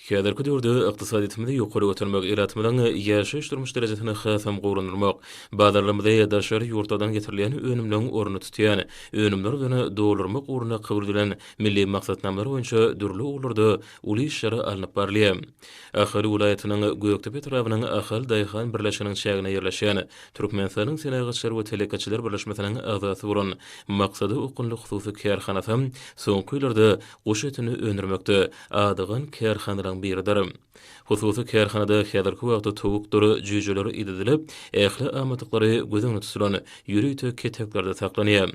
Häzirki döwürde ykdysadyýetimizi ýokary götermek, ilatymyzyň ýaşaýyş-durmuş derejesini hasam gowulandyrmak, bazarlarymyzy daşary ýurtlardan getirilýän önümleriň ornuny tutýan önümler bilen doldurmak ugrunda kabul edilen milli maksatnamalar boýunça dürli ugurlarda uly işler alnyp barylýar. Ahal welaýatynyň Gökdepe etrabynyň Ahal daýhan birleşiginiň çäginde ýerleşen Türkmenistanyň Senagatçylar we telekeçiler birleşmesiniň agzasy bolan Maksada okgunly hususy kärhanasy soňky ýyllarda Guş etini öndürmekde adygan kärhanalaryň biridir. Hususy kärhanada häzirki wagtda towukdyr jüýjeler idedilip, ähli amatlyklary göz öňünde tutulan ýörite keteklerde saklanýar.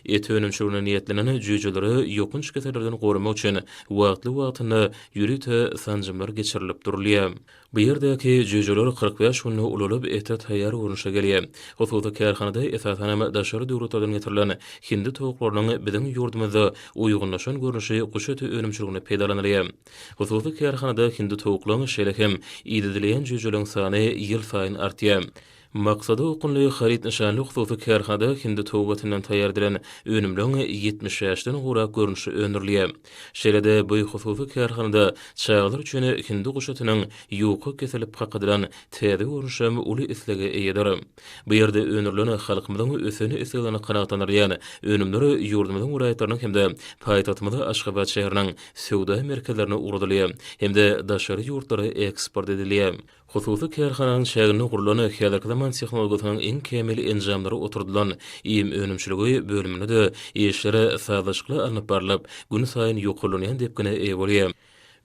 Et önümçiligine niýetlenen jüýjeleri ýokanç kesellerden goramak üçin wagtly-wagtynda ýörite sanjymlar geçirilip durulýar. Bu ýerdäki jüýjeler kyrk bäş günde ulalyp, ete taýýar görnüşde gelýär. Hususy kärhanada esasanam daşary döwletlerden getirilen hindi towuklarynyň biziň ýurdumyzda uýgunlaşan görnüşi guş eti önümçiliginde peýdalanylýar. Hususy kärhanada hindi towuklaň, şeýle hem idedilýän jüýjeleň sany ýylsaýyn artýar. Maksada okgunly haryt nyşanly hususy kärhanada hindi towbasyndan taýýardylan önümleriň ýetmiş bäşden gowrak görnüşi öndürilýär. Şeýle-de bu hususy kärhanada çagalar üçin hindi guşatynyň ýuka kesilip kakadylan täze görnüşem uly islege eýedir. Bu ýerde öndürilen halkymyzyň ösen isleglerini kanagatlandyrýan önümler ýurdumyzyň welaýatlarynyň hem-de paýtagtymyz Aşgabat şäheriniň söwda merkezlerine ugradylýar hem-de daşary ýurtlara eksport edilýär. Hususy kärhananyň çäginde gurlan häzirki zaman tehnologiýasynyň iň kämil enjamlary oturdylan iým önümçiligi bölüminde-de işler sazlaşykly alnyp barlyp, günsaýyn ýokarlanýan depgine eýe bolýar.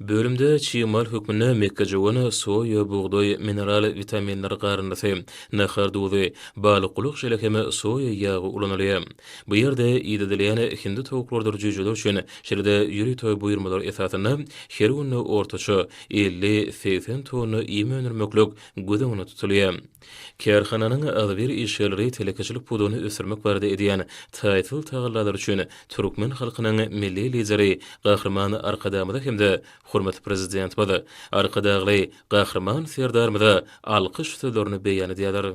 Bölümde çig mal hökmünde mekgejöwen, soýa, bugdaý, mineral witaminler garyndysy, nahar duzy, balykgulak jeli hem soýa ýagy ulanylýar. Bu ýerde idedilýän hindi towuklardyr jüýjeler üçin, şeýle-de ýörite buýurmalar esasynda, her günde ortaça, elli-segsen tonna iým öndürmeklik göz öňünde tutulýar. Kärhananyň agzybir işgärleri telekeçilik pudagyny ösdürmek barada edýän taýsyz tagallalary üçin türkmen halkynyň Milli Lideri Gahryman Arkadagymyza hem-de hormatly Prezidentimiz Arkadagly Gahryman Serdarymyza alkyş sözlerini beýan edýärler.